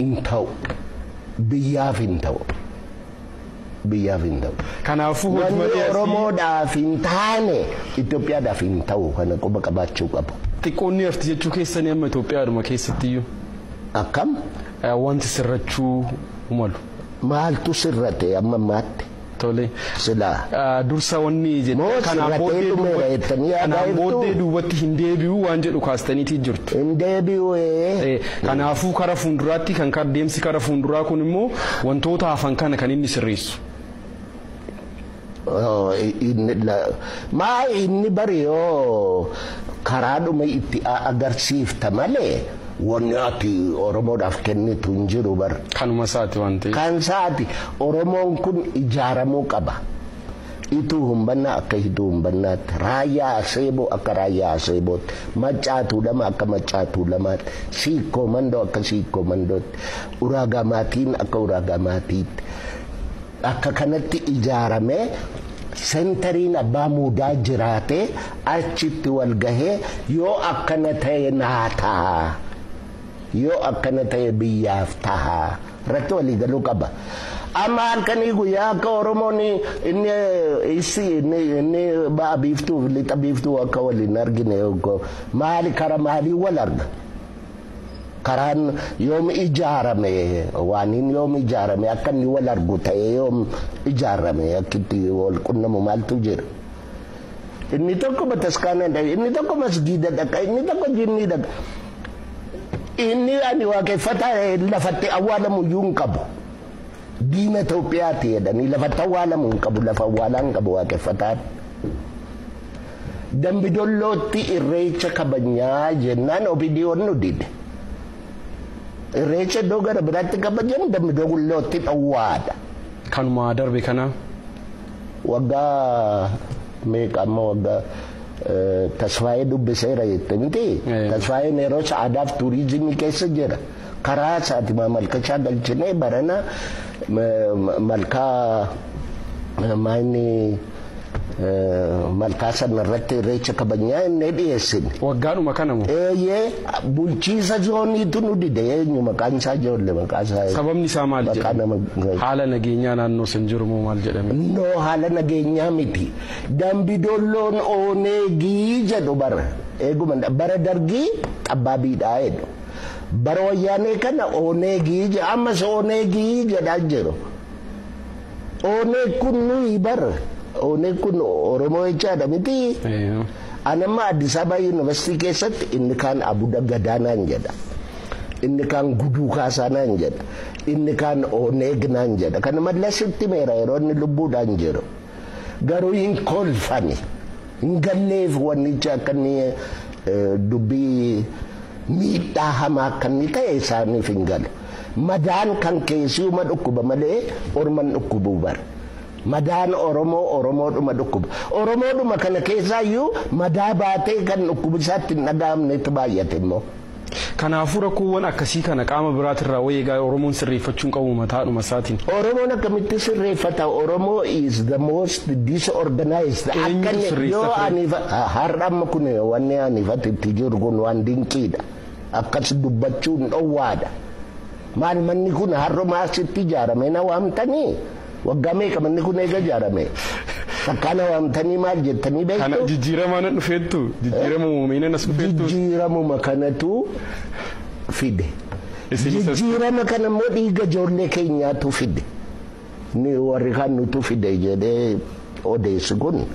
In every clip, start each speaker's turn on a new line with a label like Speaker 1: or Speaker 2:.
Speaker 1: hin ta'u. Biyyaaf hin ta'u. Biyyaaf hin ta'u. Kanaafuu hojii Wanni malee
Speaker 2: asii Oromoodhaaf
Speaker 1: hin taane Itoophiyaadhaaf hin ta'u kana quba qabaachuu qabu. xiqqoonni arti jechuu
Speaker 2: keessanii amma Itoophiyaadhuma keessattiyyuu Akkam
Speaker 1: eh, wanti
Speaker 2: sirrachuu malu. maaltu
Speaker 1: sirrate amma ammaatti? Tole.
Speaker 2: Silaa.
Speaker 1: Dursa wanni
Speaker 2: jette Moo kanaan sirratee booddee dhumeera duubatti jettanii yaadaa kanaan jirtuu? booddee duubatti hin deebi'u waan jedhu kaastaniitii jirtu. Hin deebi'u
Speaker 1: ee. Eh, Kanaafuu
Speaker 2: kara fuulduraatti kan kar- deemsi kara fuulduraa kun immoo wantoota hafan kana kan inni sirreessu. Oh,
Speaker 1: inni la- maa inni bari yoo karaadhuma itti a- agarsiifta malee Wanni ati Oromoodhaaf kennitu hin jiru bar. Kanuma isaati waan
Speaker 2: ta'eef. Kan isaati Oromoon
Speaker 1: kun ijaaramuu qaba. Ituu humbannaa akka hiduu humbannaatti, raayyaa aseeboo akka raayyaa aseebootti, maccaa tuulama akka maccaa tuulamaatti, siikkoo mandoo akka siikkoo mandootti, uraagaa maatiin akka uraagaa maatiitti. Bakka kanatti ijaaramee sentariin abbaa muudaa jiraatee achitti wal gahee yoo akkana ta'e naa taha yoo akkana ta'e biyyaaf taha irratti walii galuu qaba. Amma halkanii guyyaa akka Oromoon inni issi inni inni ba'a biiftuu fi lixa biiftuu akka waliin argine maali kara maalii wal arga. Karaan yoom ijaarame waaniin yoom ijaarame akka inni wal argu ta'ee yoom ijaarame akka itti wal qunnamu maaltu jira. Inni tokko bataskaana dhaqa, inni tokko masgiida dhaqa, inni tokko jinnii dhaqa. Inni ani waaqeffataa lafatti awwaalamu iyyuu hin qabu. Diina Itoophiyaati jedhanii lafatti awwaalamu hin qabu lafa awwaalaa hin qabu waaqeffataan. Dambidollootti irreecha kabajnaa jennaan opidiyoon nu dide. Irreecha iddoo gara biraatti kabajamu dambidollootti dhowwaadha. Kanuma
Speaker 2: darbe kana. Waggaa
Speaker 1: meeqa amma waggaa tasfaayee dubbiseera jette miti. Tasfaayeen yeroo sa'aadaaf tuuriizimii keessa jira. Karaa isaati maamalkachaa galchinee barana malkaa maayini malkaa sana irratti irreecha kabajnaa inni dhiyeessine. Waggaadhuma kana moo?
Speaker 2: Eeyyee bulchiisa
Speaker 1: zooniitu nu dide eenyu maqaan isaa ijoollee maqaa isaa. Sababni isaa maal Maqaa
Speaker 2: nama jedhama? Haala nageenyaa naannoo san jiru moo maal jedhame? No haala
Speaker 1: nageenyaa miti. Dambi dolloon ooneegii jedhu bara. Eeguma bara dargii xabbaabiidhaa jedhu. Bara wayyaanee kana Oneegii jedha ammas Oneegii jedhaa jiru. Oneeg kun nuyi bar Oneeg kun Oromoo jechaadha miti. An amma Addis Ababa Yuunivarsiitii keessatti inni kaan Abuda Gadaa naan jedha. Inni kaan Guduu Kaasaa naan jedha. Inni kaan Oneeg naan jedha. Kana mallasitti meera yeroo inni lubbuudhaan jiru. Garuu hin kolfani. Hin galleef wannichi akka inni dubbii miidhaa hamaa akka inni ta'e isaaniif hin galu. Madaan kan keessiuma dhukkuba malee orman dhukkubuu bara. Madaan Oromoo Oromoodhuma dhukkuba. Oromoodhuma kana keessaayyuu madaa baatee kan dhukkubisaatti hin dhaga'amnetu baay'ate immoo. Kanaafuu
Speaker 2: rakkoowwan akkasii kana qaama biraatirraa way egaa Oromoon sirreeffachuun qabu mataadhuma isaatiin. Oromoon akkamitti
Speaker 1: sirreeffata Oromoo is the most disorganized akka Eenyutu inni sirreessa yoo ture? ani fa- ha- har'a amma kun wanni ani fati itti jiru kun waan dinqiidha akkas dubbachuun dhowwaadha maal manni kun har'uma asitti ijaarame na waamtanii Waggaa meeqa manni kun eega ijaarame? Takkaa na waamtanii maal jettanii beektu? Kana jijjiiramaa nan
Speaker 2: dhufeettu jijjiirama uumamee as dhufeettu. Jijjiiramuma kanatu
Speaker 1: fide. Jijjiirama kana immoo dhiiga ijoollee keenyaatu fide. Ni warri kaan nutu fide jedhee Odeessi kun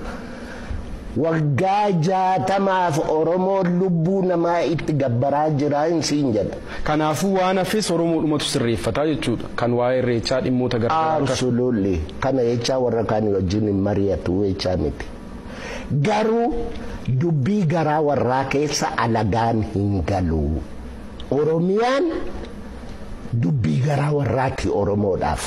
Speaker 1: waggaa jaatamaaf Oromoon lubbuu namaa itti gabbaraa jira hin siin jedha. Kanaafuu waan hafes
Speaker 2: Oromoodhumatu sirreeffata jechuudha. Kan waa'ee Irreechaa dhimmoota garagaraa akka. Absolutely. Kana
Speaker 1: jechaa warra kaanii wajjin hin mari'atu jechaa miti. Garuu dubbii garaa warraa keessa alagaan hin galu. Oromiyaan dubbii garaa warraati Oromoodhaaf.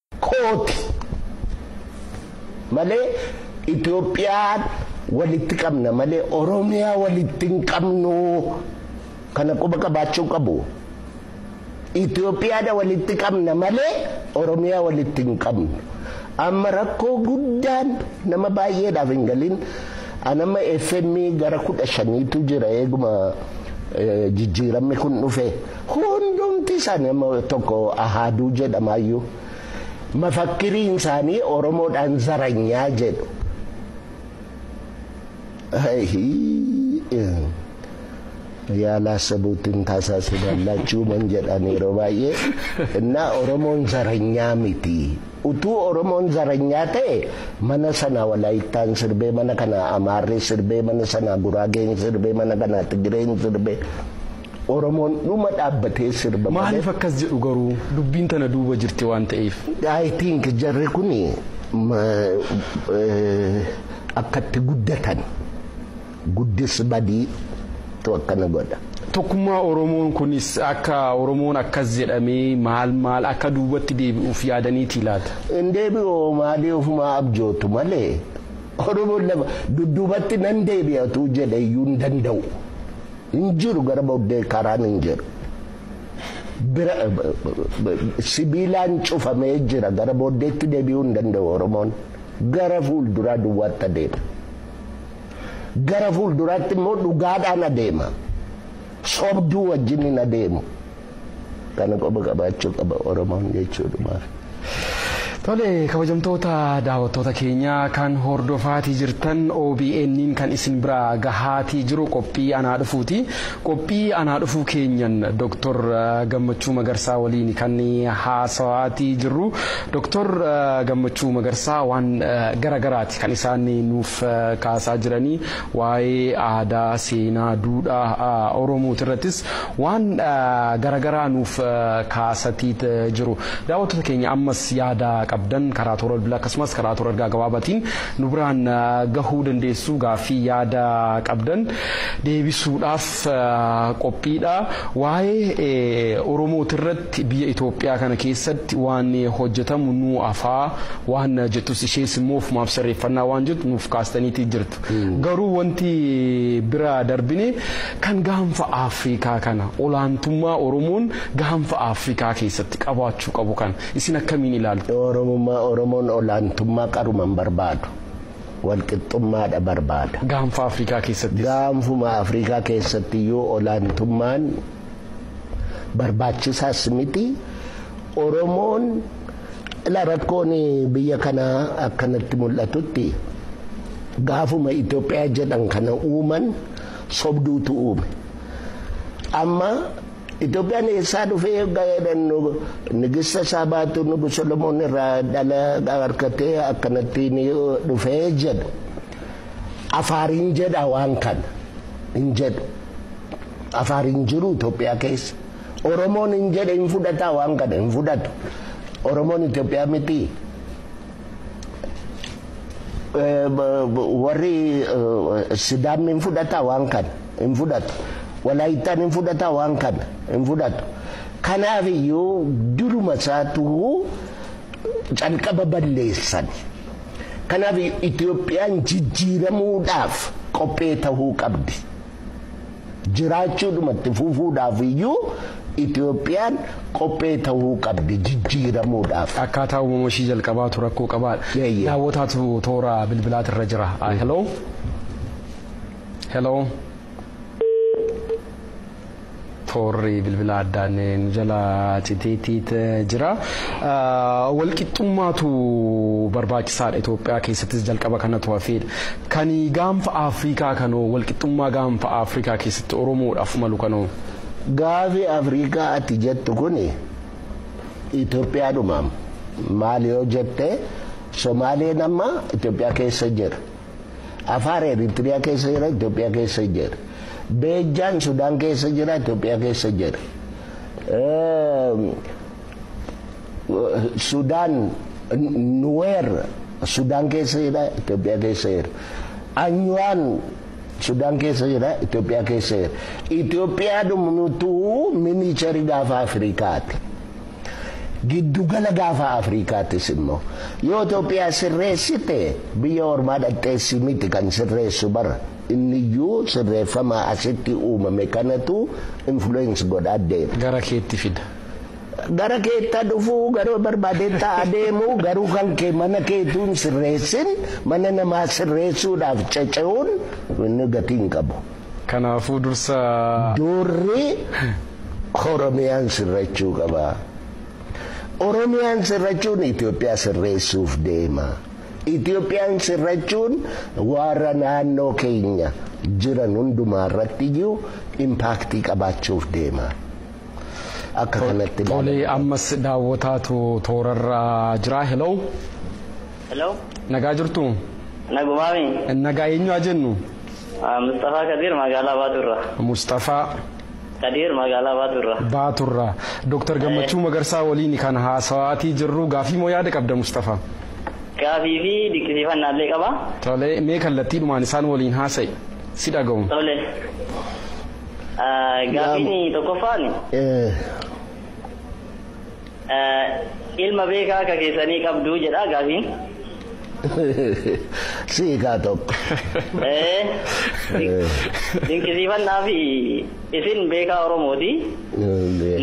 Speaker 1: kooti malee Itoophiyaan walitti qabna malee Oromiyaa walitti hin qabnu kana quba qabaachuu qabu. Itoophiyaadha walitti qabna malee Oromiyaa walitti hin qabnu. Amma rakkoo guddaan nama baay'eedhaaf hin galin anama FM gara kudha shaniitu jira eeguma jijjiiramni kun dhufe. Hundumti isaanii amma tokko ahaaduu jedhamaayyuu mafakkiriin isaanii Oromoodhaan zaranyaa jedhu. Yaalaa sabuutiin taasaasuu dallaachuu man jedhan yeroo baay'ee innaa Oromoon zaranyaa miti. Utuu Oromoon zaranyaa ta'e mana sana Walaayittaan sirbee mana kana Amaarri sirbee mana sana Guraageen sirbee mana kana Tigireen sirbee. Oromoon dhuma dhaabbatee sirba malee. Maaliif akkas jedhu
Speaker 2: garuu? Dubbiin tana duuba jirti waan ta'eef. I think
Speaker 1: jarri kun akkatti guddatan guddis badii tu akkana godha. Tokkummaa Oromoon
Speaker 2: kunis akka Oromoon akkas jedhamee maal maal akka duubatti deebi'uuf yaadaniitii laata? Hin deebi'u
Speaker 1: maalii ofumaa abjootu malee Oromoon lama dudduubatti nan deebi'atu jedhe iyyuu hin danda'u. Hin jiru gara booddee karaan hin jiru. Bira sibiilaan cufamee jira gara booddeetti deebi'uu hin danda'u Oromoon. Gara fuulduraa duwwaatti adeema. Gara fuulduraatti immoo dhugaadhaan adeema. Sobduu wajjin hin adeemu. Kana qoba qabaachuu qaba Oromoon jechuudhumaaf.
Speaker 2: Tole kabajamtoota daawwattoota keenya kan hordofaatii jirtan OBN'n kan isin bira gahaatii jiru qophii anaa dhufuuti. Qophii anaa dhufuu keenyan Dr. Gammachuu Magarsaa waliin kan haasawaatii jirru. Dr. Gammachuu Magarsaa waan garagaraati kan isaan nuuf kaasaa jiranii. Waa'ee aadaa, seenaa, duudhaa Oromooti irrattis waan garagaraa nuuf kaasatii jiru. Daawwattoota keenya ammas yaada qabdan karaa toora bilbilaa akkasumas karaa toora ergaa gabaabaatiin nu biraan gahuu dandeessu. Gaaffii yaada qabdan deebisuudhaaf qophiidha. Waa'ee Oromooti irratti Biyya Itoophiyaa kana keessatti waan hojjetamu nuu afaa waan jettus ishees immoo ofumaaf sirreeffannaa waan jettu nuuf kaastaniitii jirtu. Garuu wanti bira darbine kan gaanfa Afrikaa kana olaantummaa Oromoon gaanfa Afrikaa keessatti qabaachuu qabu kana isin akkamiin ilaaltu? Oromummaa Oromoon
Speaker 1: olaantummaa qaruma hin barbaadu. Walqixxummaadha barbaada. Gaanfa Afrikaa
Speaker 2: keessattis. Gaanfuma Afrikaa
Speaker 1: keessatti iyyuu olaantummaan barbaachisaas miti oromoon ila rakkoon biyya kanaa akkanatti mul'atutti gaafuma Itoophiyaa jedhan kana uuman sobduutu uume amma Itoophiyaan eessaa dhufee eeggaa jedhan nigista isaa baatu nugu Solomoon irraa dhala harkatee akkanatti ni dhufee jedhu afaariin jedha waan kana hin jedhu. Afaar hin jiru Itoophiyaa keessa. Oromoon hin jedhe hin fudhataa waan kana hin fudhatu. Oromoon Itoophiyaa miti. Warri Sidaamni hin fudhataa waan kana hin fudhatu. Walaayittaan hin fudhataa waan kana hin fudhatu. Kanaaf iyyuu duruma isaatu calqaba balleessan. Kanaaf Itoophiyaan jijjiiramuudhaaf qophee tahuu qabdi. jiraachuudhuma itti fufuudhaaf iyyuu Itoophiyaan qophee ta'uu qabdi jijjiiramuudhaaf. Akkaataa uumama ishii
Speaker 2: jalqabaatu rakkoo qabaa. Eeyyee. Daawwataatu toora bilbilaati irra jira. Ah, Hello. Hello. Toorri bilbilaa addaan nu jalaa citeetiit jira. Walqixxummaatu barbaachisaadha Itoophiyaa keessattis jalqaba kanatu hafeedha. Kan gaanfa Afrikaa kanoo walqixxummaa gaanfa Afrikaa keessatti Oromoodhaaf malu kanoo. Gaafi
Speaker 1: Afrikaa ati jettu kuni Itoophiyaadhumaam maal yoo jette Somaaleen amma Itoophiyaa keessa jira. Afaar Eritiriyaa keessa jira Itoophiyaa keessa jira. Beejjaan Sudaan keessa jira Itoophiyaa keessa jira. Sudaan Nuweer Sudaan keessa jira Itoophiyaa keessa jira. Anyuwaan Sudaan keessa jira Itoophiyaa keessa jira. Itoophiyaa dhumnutu miniicharii gaafa Afrikaati. Giddugala gaafa Afrikaattis immoo yoo Itoophiyaa sirreessite biyya ormaa dhaqxeessi miti kan sirreessu bara inniyyuu sirreeffama asitti uumame kanatu influence godhaa deema. Gara keetti fida.
Speaker 2: Gara
Speaker 1: keetta dhufuu garuu barbaadeetta adeemu garuu kan kee mana keetuu hin sirreessin mana namaa sirreessuudhaaf cece'uun inni gatii hin qabu. Kanaafuu dursa. Doorri Oromiyaan sirrachuu qaba. Oromiyaan sirrachuun Itoophiyaa sirreessuuf deema. Itoophiyaan sirrachuun warra naannoo keenya jiran hundumaa irratti iyyuu impaaktii qabaachuuf deema. Akka kanatti ilaalama. Tolee ammas
Speaker 2: daawwataatu toorarra jira. Hello. Hello.
Speaker 3: Nagaa jirtu?
Speaker 2: Nagumaami.
Speaker 3: Nagaa eenyu haa
Speaker 2: jennu? Musxafaa
Speaker 3: Kadiir Magaalaa Baatuu irraa. Musxafaa.
Speaker 2: Kadiir
Speaker 3: Magaalaa Baatuu irraa. Baatuu irraa.
Speaker 2: Dooktar Gammachuu Magarsaa waliin kan haasawaatii jirru gaafii moo yaada qabda Musxafaa? Gaafii
Speaker 3: fi dinqisiifannaa illee qaba. Tole mee
Speaker 2: kallattiidhumaan isaan waliin haasa'i si dhaga'u. Tole.
Speaker 3: Gaafiin tokkoffaan. Ilma beekaa akka keessanii qabduu jedhaa gaafiin?
Speaker 1: Si hikaa tokko.
Speaker 3: Dinqisiifannaa fi isin beekaa Oromooti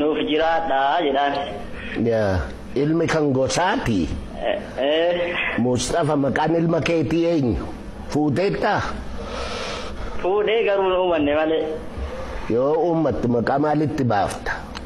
Speaker 3: nuuf jiraadhaa jedhaan.
Speaker 1: Ilmi kan gosaati. Mustafa maqaan ilma keetii eenyu? Fuuteettaa?
Speaker 3: Fuudhee garuu hin uumanne malee. Yoo
Speaker 1: uummattu maqaa maalitti baafta?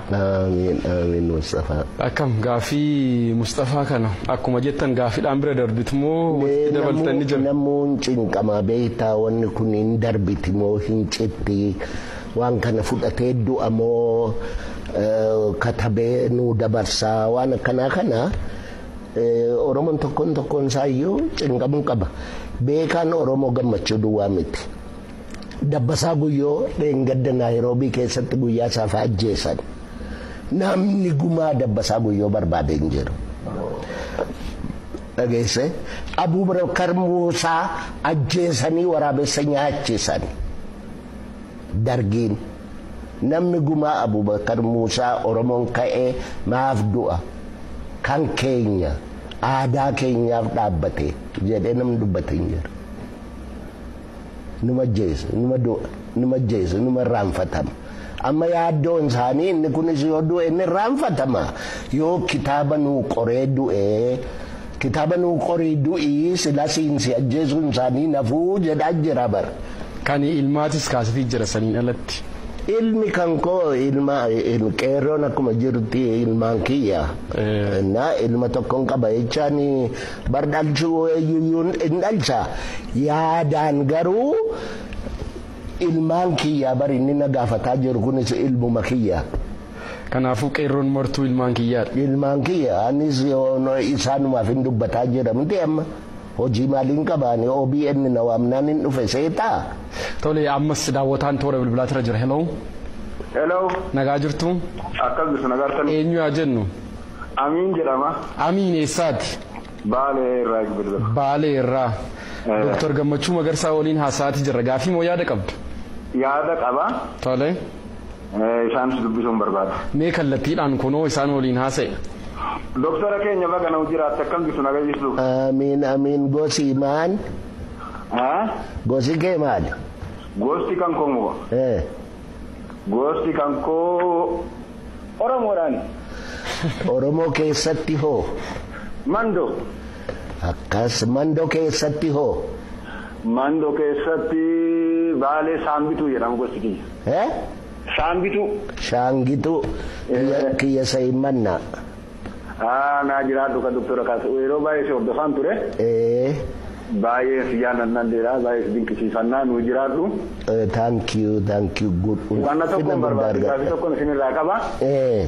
Speaker 3: Aamiin aamiin
Speaker 1: Musxafaa. Akkam gaaffii
Speaker 2: Musxafaa kana akkuma jettan gaaffiidhaan bira darbitu moo walitti dabaltan ni jira? Namuu hin cinqamaa
Speaker 1: beektaa wanni kun hin darbiti moo hin citti waan kana fudhatee du'a moo katabee nuu dabarsaa waan akkanaa kana Oromoon tokkoon tokkoon isaayyuu cinqamuu qaba. Beekaan Oromoo gammachuu duwwaa miti. Dabbasaa Guyyoo dheengadda Naayiroobii keessatti guyyaa saafa ajjeesan. Namni gumaa Dabbasaa Guyyoo barbaade hin jiru. Dhageesse Abuubakar Muusaa ajjeesanii waraabessa nyaachisan. Dargiin namni gumaa Abuubakar Muusaa Oromoon ka'ee maaf du'a kan keenya aadaa keenyaaf dhaabbate jedhee namni dubbate hin jiru. numa ajjeesa numa du'a numa ajjeesa numa irraanfatama amma yaaddoon isaanii inni kunis yoo du'e inni irraanfatama yoo kitaaba nuu qoree du'e kitaaba nuu qorii du'ii silasiin si ajjeesuun isaanii nafuu jedhaa jira bara. Kan ilmaatis
Speaker 2: kaasifii jira saniin alatti. Ilmi kan
Speaker 1: koo ilma qeerroon akkuma jirti ilmaan kiyya. Na ilma tokkoon qaba jechaan Bar dhalchuu eenyuyyuu hin dhalcha yaadaan garuu ilmaan kiyyaa bar inni na gaafataa jiru kunis ilmuma kiyya. Kanaafuu
Speaker 2: qeerroon martuu ilmaan kiyyaadha. Ilmaan kiyya anis
Speaker 1: isaanumaaf hin dubbataa jira miti amma hojii maaliin qabaani OBN na waamnaan hin dhufe seetaa. Tole ammas
Speaker 2: daawwataan toora bilbilaatirra jira heloo. Hello.
Speaker 4: Nagaa jirtu?
Speaker 2: Akkas jirtu nagaa
Speaker 4: argatan. Eenyu yaa jennu?
Speaker 2: Amiin jedhama.
Speaker 4: Amiin eessaati?
Speaker 2: Baalee irraa
Speaker 4: isin bilbila. Baalee irraa.
Speaker 2: Ee. Doktar Gammachuu Magarsaa waliin haasa'aati jirra. Gaafii moo yaada qabda? Yaada qaba.
Speaker 4: Tole.
Speaker 2: Ee,
Speaker 4: Isaanis dubbisuun barbaada. Mee kallattiidhaan
Speaker 2: kunoo isaan waliin haasa'i. Doktara
Speaker 4: keenya baga nuu jiraatte akkam jirtu naga jirtu? Amiin amiin
Speaker 1: gosi maan Ee? gosi kee maali? Gosti kan
Speaker 4: koo moo? Ee. Gosti kan koo Oromoodhaani.
Speaker 1: Oromoo keessatti hoo? Mando. Akkas Mando keessatti hoo? Mando
Speaker 4: keessatti Baalee Saambituu jedhama gosti kiyya. Eh? Saambituu. Shaangituu.
Speaker 1: Kiyya Eh. kiyya Sayimmannaa. Haa
Speaker 4: naa jiraadhu ka Doktora Kaasuu yeroo baay'ee si hordofaan ture. Ee. Baay'ee si jaalladhan jira baay'ee si dinqisiifannaa nuu jiraadhu. Eh, thank
Speaker 1: you, thank you. Good. Wanna tokko Ulfina guddaa
Speaker 4: barbaadu gaafi argadha. tokko isinirraa qaba. Eh,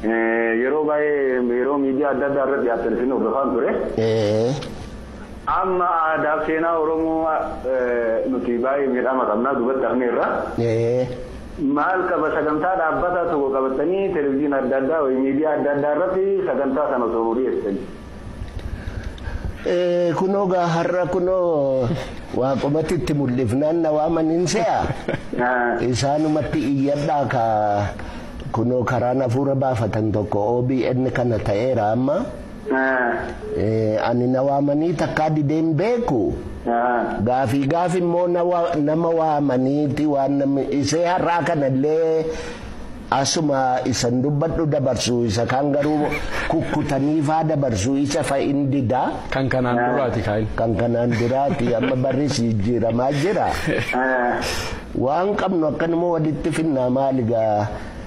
Speaker 4: Eh, Yeroo baay'ee yeroo miidiyaa adda addaa irratti dhiyaatan isin hordofaan ture. eh, Amma aadaa fi seenaa Oromoo eh, nuti baay'ee miidhama qabnaa duubatti hafneerra. eh, Maal qaba sagantaa dhaabbataa tokko qabattanii televiziina adda addaa wayi miidiyaa adda addaa irratti sagantaa sana osoo nuu
Speaker 1: dhiyeessitanii. Kunoo gaa har'a kunoo waaqumatti itti mul'ifnaan na waaman hin se'a. Isaanumatti iyyadhaa ka kunoo karaan hafuura baafatan tokko OBN kana ta'eera amma. Ani na waamanii takkaa didee hin beeku. Gaafii gaafi immoo nama waamaniiti waan namni isee har'aa kanallee asuma isan dubbadhu dabarsu isa kaan garuu kukkutanii faa dabarsu isa fa in dida. Kan kanaan duraati
Speaker 2: kaa'in. Kan kanaan duraati
Speaker 1: amma barris jijjiiramaa jira. Waan qabnu akkanuma walitti finnaa maali gaa.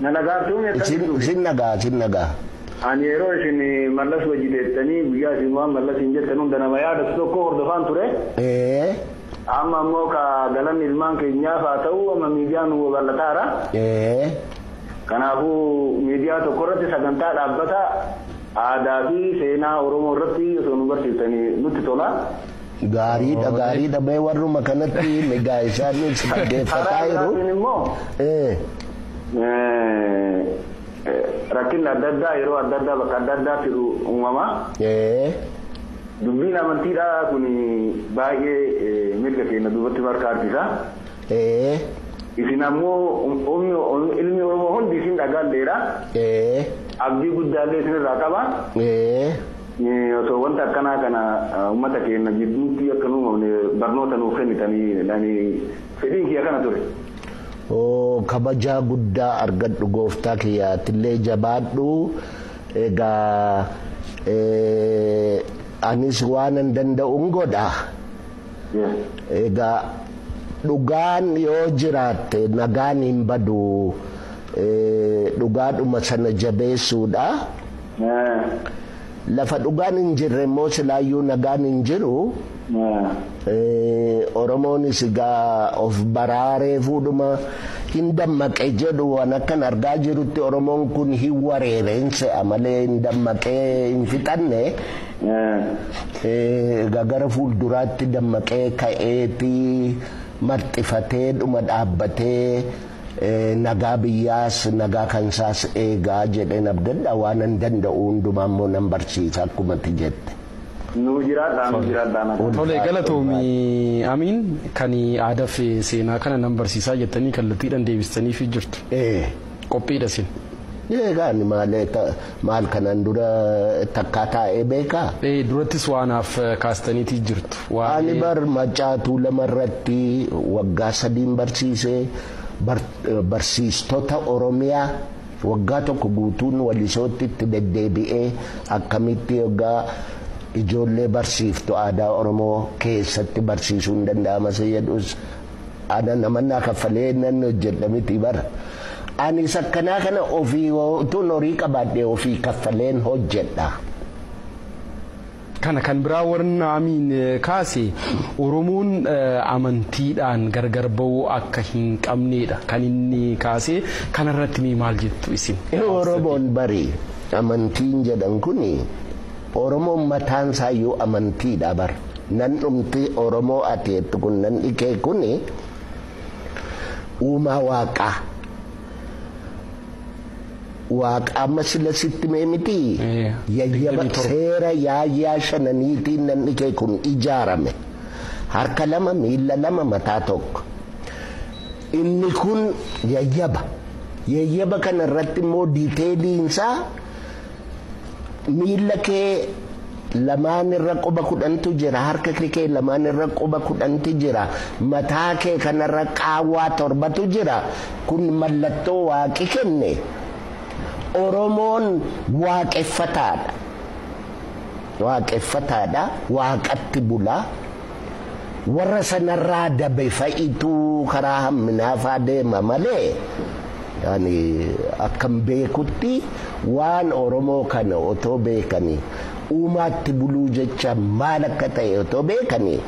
Speaker 2: Na dhagaattuu mee akkatti
Speaker 1: Isin, dhufe. sin dhaga'a, sin dhaga'a. Ani yeroo
Speaker 4: isin Mallas wajji teettanii guyyaa isin waan Mallasiin jettan hunda nama yaadatu tokkoo hordofaan ture. Ee, Amma immoo ka galanni ilmaan keenyaaf haa ta'u amma miidiyaan nu babal'ataara. ee, Kanaafuu miidiyaa tokko irratti sagantaa dhaabbataa aadaa fi seenaa Oromoo irratti osoo nu barsiiftanii nutti tola. Gaariidha
Speaker 1: gaariidha mee warruma kanatti migaa isaaniif dhaggeeffataa jiru.
Speaker 4: Rakkinni adda addaa yeroo adda addaa bakka adda addaatti uumama. Dubbiin amantiidhaa kun baay'ee mirga keenya duubatti marka harkisa. Isin ammoo ilmi Oromoo hundi isin dhagaalleedha. Abdii guddaallee isinirraa qaba. Osoo wanta akkanaa kana ummata keenna jidduutti akka hin uumamne barnoota nuuf kennitanii ani fedhiin kiyya kana ture. Oo
Speaker 1: kabajaa guddaa argadhu gooftaa kiyya atillee jabaadhu egaa eh, anis waanan danda'un godha Yes. egaa dhugaan yoo jiraatte nagaan hin badu eh, dhugaadhuma sana jabeessuudha Naa. Lafa dhugaan hin jirre immoo silaayyuu nagaan hin jiru. Naa. Oromoonis egaa of baraaree fuudhuma hin dammaqe jedhu waan akkan argaa jirutti Oromoon kun hin wareere hin se'a malee hin dammaqee hin fixanne. Egaa gara fuulduraatti dammaqee ka'eeti marxifatee dhuma dhaabbatee. Nagaa biyyaas nagaa kansaas eegaa jedheen abdadha waanan danda'u hundumaa immoo nan barsiisa akkuma ati jette. Nuu jiraadhaa nuu jiraadhaa
Speaker 2: nagaa. Tole galatoomi Amiin kan aadaf seenaa kana nan barsiisaa jettanii kallattiidhan deebistaniifi jirtu. Ee. Qophiidha isin. Eegaa ani
Speaker 1: maalee Maal kanaan dura takkaa taa'ee beekaa? Ee durattis waanaaf
Speaker 2: kaastaniitii jirtu. Ani bar
Speaker 1: macaatuu lama irratti waggaa sadiin barsiise barsiistota Oromiyaa waggaa tokko guutuun walisootti itti deddeebi'ee akkamitti waggaa ijoollee barsiiftu aadaa Oromoo keessatti barsiisuun danda'ama isa jedhus ana namannaa kaffalee nan hojjedha miti bara. Anis akkanaa kana ofii utuun horii qabaadhe ofii kaffaleen hojjedha.
Speaker 2: Kana kan biraa warri naamiin kaase Oromoon amantiidhaan gargar ba'uu akka hin qabneedha kan inni kaase kanarratti mee maal jettu isin? Oromoon bari
Speaker 1: amantiin jedhan kuni Oromoon mataan isaa iyyuu amantiidha bara. Nan dhumti oromoo ati jettu kun nan dhikee kuni uumaa waaqaa waaqa amma sila sitti mee miti Eh, yayyaba 27. seera yaayyaa shananiitiin nan dhikee kun ijaarame harka lama miila lama mataa tokko inni kun yayyaba yayyaba kana irratti immoo diiteeliinsaa Miilla kee lamaan irra quba kudhantu jira, harka kee lamaan irra quba kudhanti jira, mataa kee kanarra qaawwaa torbatu jira. Kun mallattoo waaqi kenne. Oromoon waaqeffataadha. Waaqeffataadha, waaqatti bula. warra sanarraa dabe fa'itu karaa hamminaafaa deema malee ani akkan beekutti waan Oromoo kana otoo beekanii uumaatti buluu jecha maal akka ta'e otoo beekanii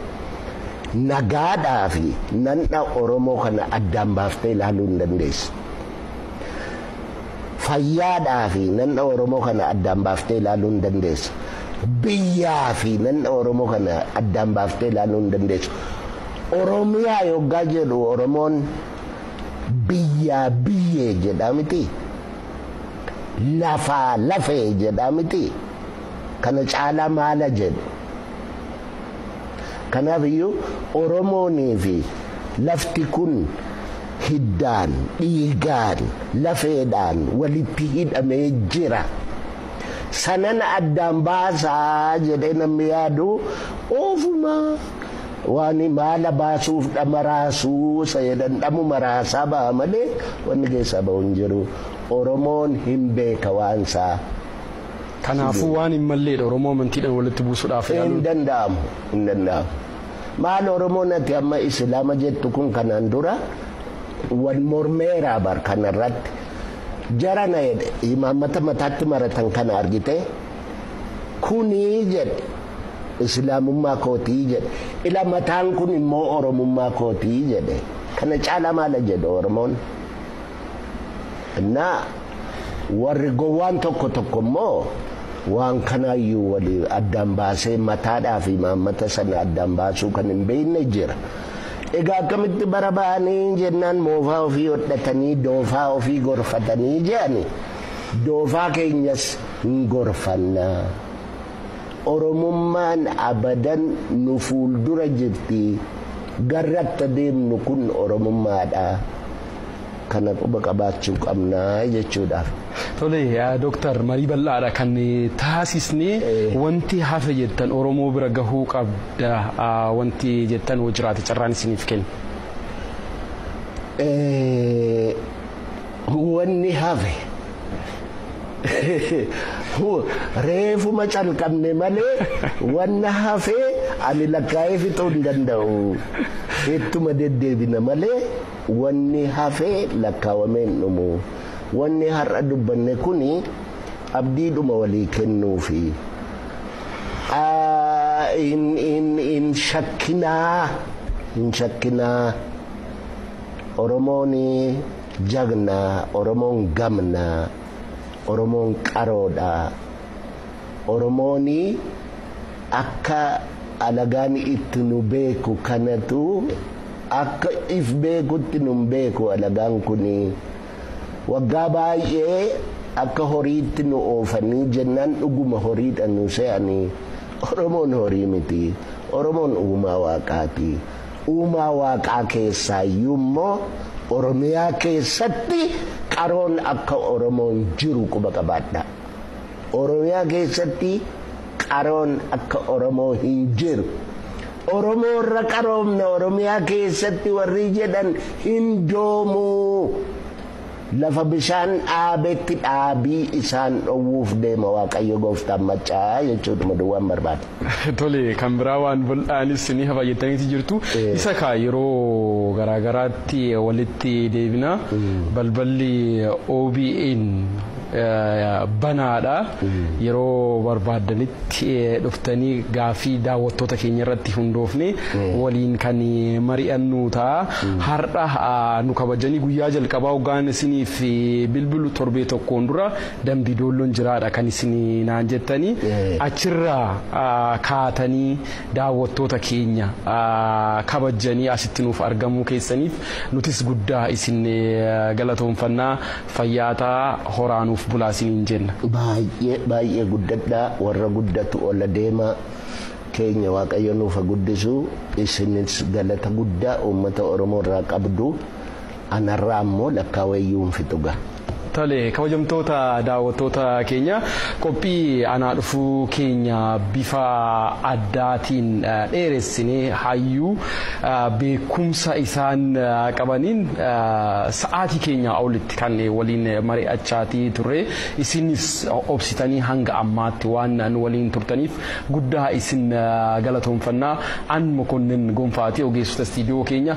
Speaker 1: nagaadhaa fi nan'a Oromoo kana addaan baaftee ilaaluu hin dandeessu. Fayyaadhaa fi nan'a Oromoo kana addaan baaftee ilaaluu hin dandeessu. Biyyaa fi nan'a Oromoo kana addaan baaftee ilaaluu hin dandeessu. Oromiyaa yoggaa jedhu Oromoon biyyaa biyyee jedhaa miti? Lafaa lafee jedhaa miti? Kana caalaa maala jedhu? Kanaaf iyyuu Oromoonii fi lafti kun hiddaan, dhiigaan, lafeedhaan walitti hidhamee jira. Sanan addaan baasaa jedhee namni yaadu ofuma waan maala baasuuf dhama raasuu isa jedhan dhamuma raasaa baha malee wanni keessaa bahu hin jiru. Oromoon hin beeka waan isaa. Kanaafuu
Speaker 2: waan hin malleedha Oromoo amantiidhaan walitti buusudhaaf yaaluun. Hin danda'amu.
Speaker 1: Hin danda'amu. Maal Oromoon ati amma Islaama jettu kun kanaan dura wal mormeeraa bar kanarratti jara na jedhe imaammata mataatti maratan kana argitee kunii jedhe Islaamummaa kootii jedhe ila mataan kun immoo Oromummaa kootii jedhe kana caalaa maala jedhe Oromoon. Innaa warri gowwaan tokko tokko immoo waan kanaayyuu wali addaan baasee mataadhaa fi maammata sana addaan baasuu kan hin beekne jira. Egaa akkamitti bara ba'anii jennaan moofaa ofii hodhatanii doofaa ofii gorfatanii jedhani doofaa keenyas hin gorfanna. Oromummaan abadan nu fuuldura jirti garratta deemnu kun Oromummaadha. kana quba qabaachuu qabna jechuudhaaf. Tole
Speaker 2: Dooktar marii bal'aadha kan taasisne wanti hafe jettan Oromoo bira gahuu qabda wanti jettan hoo jiraate carraan isiniif kenna.
Speaker 1: Wanni hafe reefuma calqabne malee wanna hafe ani lakkaa'ee fixuu hin danda'u ittuma deddeebina malee. Wanni hafe lakkaawamee hin dhumu. Wanni har'a dubbanne kuni abdiidhuma walii kennuufi. Hin shakkinaa, hin shakkinaa. Oromoon jagna, Oromoon gamna, Oromoon qaroodha. Oromooni akka alagaan itti nu beeku kanatu akka if beekutti nun beeku alagaan kuni. Waggaa baay'ee akka horiitti nu oofanii jennaan dhuguma horiidha nu se'ani. Oromoon horii miti. Oromoon uumaa waaqaati. Uumaa waaqaa keessaayyuu immoo Oromiyaa keessatti qaroon akka Oromoo hin jiru quba qabaadhaa. Oromiyaa keessatti qaroon akka Oromoo hin jiru. Oromoo irra qaroomna Oromiyaa keessatti warri jedhan hin doomuu. Lafa bishaan dhaabetti dhaabii isaan dhowwuuf deema Waaqayyo gooftaan maccaa jechuudha duwwaan barbaada. Tole kan
Speaker 2: biraa waan bal'aanis ni hafaayyattaniiti jirtu. Isa kaa yeroo garaagaraatti walitti deebina. Balballi OBN banaadha. Yeroo barbaaddanitti dhuftanii gaaffii daawwattoota keenya irratti hundoofne waliin kan mari'annu ta'a. Har'a nu kabajanii guyyaa jalqabaa hoggaan isiniif bilbilu torbee tokkoon dura Dambi Doolloon jiraadha kan isin naan jettanii achirraa kaatanii daawwattoota keenya kabajjanii asitti nuuf argamuu keessaniif nutis guddaa isin galatoomfanna fayyaa ta'aa horaa nuuf bulaa isiniin jenna. Baay'ee baay'ee
Speaker 1: guddadhaa warra guddatu ola deema keenya waaqayyo nuuf ha guddisu isinis galata guddaa uummata oromoo irraa qabdu. An har'a ammoo lakkaawee iyyuu hin fixu ga. Tole
Speaker 2: kabajamtoota daawwattoota keenya qophii anaa dhufuu keenya bifa addaatiin dheeressinee hayyuu beekumsa isaan qabaniin sa'aatii keenyaa olitti kan waliin mari'achaatii turre isinis obsitanii hanga ammaatti waan nu waliin turtaniif guddaa isin galatoomfannaa an mokonnin gonfaati ogeessota istiidiyoo keenya